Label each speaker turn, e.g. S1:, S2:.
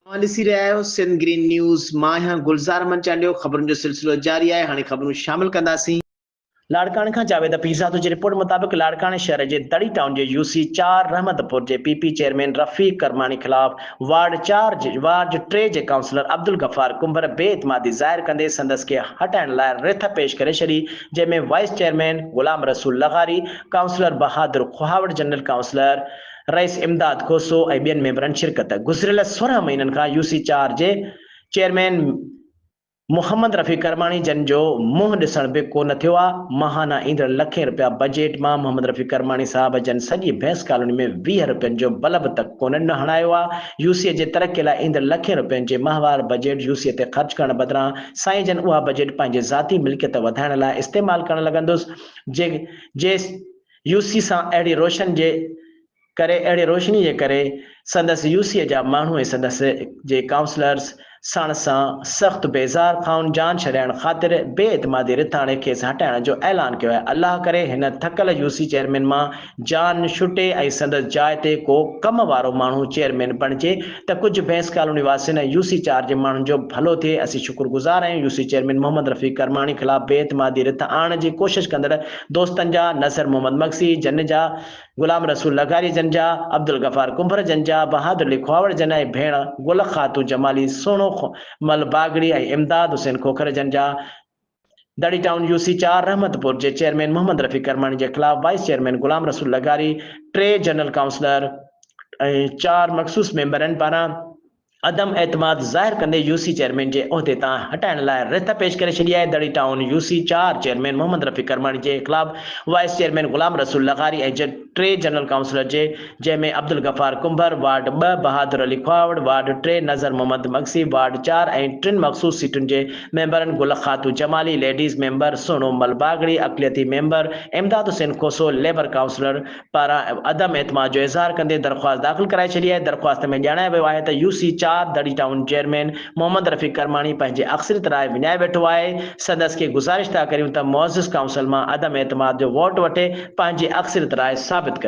S1: اوهان ڏسي رهيا آهيو سنڌ گرين نيوز مان آهيان گلزار احمد چانڊيو خبرن جو سلسلو جاري آهي هاڻي خبرون شامل ڪنداسين. لاڙڪاڻي کان جاويد پيرزادو جي رپورٽ مطابق لاڙڪاڻي شهر جي دڙي ٽائون جي يو سي چار رحمتپور جي P P chairman Rafiq Karmani خلاف وارڊ چار جي وارڊ ٽي جي ڪائونسلر عبدالغفار ڪنڀر بي اعتمادي ظاهر ڪندي سندس کي هٽائڻ لاء رٿ پيش ڪري ڇڏي جنهن ۾ وائيس چيئرمين غلام رسول لغاري ڪائونسلر بهادر کوهاوڙ جنرل ڪائونسلر رئيس امداد کوسو ۽ ٻين ميمبرن شرڪت. گذريل سورهن مهينن کان يو سي چار جي چيئرمين محمد رفيق ڪرماڻي جن جو منهن ڏسڻ به ڪو نه ٿيو آ، ماهانه ايندڙ لکين رپيا بجيٽ مان محمد رفيق ڪرماڻي صاحب جن سڄي ڀينس ڪالوني ۾ ويهه رپين جو بلب تڪ ڪونه نه هڻايو آ، يو سي جي ترقي لاء ايندڙ لکين رپين جي ماهوار بجيٽ يو سي تي خرچ ڪرڻ بدران سائين جن اها بجيٽ پنهنجي ذاتي ملڪيت وڌائڻ لاء استعمال ڪرڻ لڳندس جي جي يوسي سان اهڙي روشن جي ڪري اهڙي روشني جي ڪري سندس يوسيء جا ماڻهو ۽ سندس جي ڪائونسلرز سڻ سان سخت بيزار ٿائون جان ڇڏائڻ خاطر بي اعتمادي رٿاڻي کيس هٽائڻ جو اعلان ڪيو آهي الله ڪري هن ٿڪل يوسي چيئرمين مان جان ڇٽي ۽ سندس جاء تي ڪو ڪم وارو ماڻهو چيئرمين بڻجي ته ڪجهه بئنس ڪالوني واسين ۽ يوسي چار جي ماڻهن جو ڀلو ٿئي اسين شڪر گذار آهيون يوسي چيئرمين محمد رفيق ڪرماڻي خلاف بي اعتمادي رٿ آڻڻ جي ڪوشش ڪندڙ دوستن جا، نصر محمد مگسي جن جا، غلام رسول لغاري جن جا، عبدالغفار ڪنڀر جن جا، بهادر لکواوڙ جن ۽ ڀيڻ گل خاتون جمالي سهڻو مل باگڙي ۽ امداد حسين کوکر جن جا، دڙي ٽائون يو سي چار رحمت پور جي چيئرمين محمد رفيق ڪرماڻي جي خلاف وائيس چيئرمين غلام رسول لغاري، ٽي جنرل ڪائونسلر ۽ چار مخصوص ميمبرن پاران، عدم اعتماد ظاهر ڪندي يو سي چيئرمين جي عهدي تان هٽائڻ لاء رٿ پيش ڪري ڇڏي آهي، دڙي ٽائون يو سي چار چيئرمين محمد رفيق ڪرماڻي جي خلاف وائيس چيئرمين غلام رسول لغاري ۽ ٽي جنرل ڪائونسلر جي جنهن ۾ عبدالغفار ڪنڀر، وارڊ ٻه، بهادر علي کهاوڙ، وارڊ ٽي، نظر محمد مگسي، وارڊ چار، ۽ ٽن مخصوص سيٽن جي ميمبرن گل خاتو جمالي، ليڊيز ميمبر، سهڻو مل باگڙي، اقليتي member, Imdad Hussain Khoso, labour councillor, پاران عدم اعتماد جو اظهار ڪندي درخواست داخل ڪرائي ڇڏي آهي، درخواست ۾ ڄاڻايو ويو آهي ته يو سي چار دڙي ٽائون چيئرمين محمد رفيق ڪرماڻي پنهنجي اڪثريت راء وڃائي ويٺو آهي، سندس کي گذارش ٿا ڪريون ته معزز ڪائونسل مان عدم اعتماد جو ووٽ وٺي پنهنجي اڪثريت راء ثابت ڪري.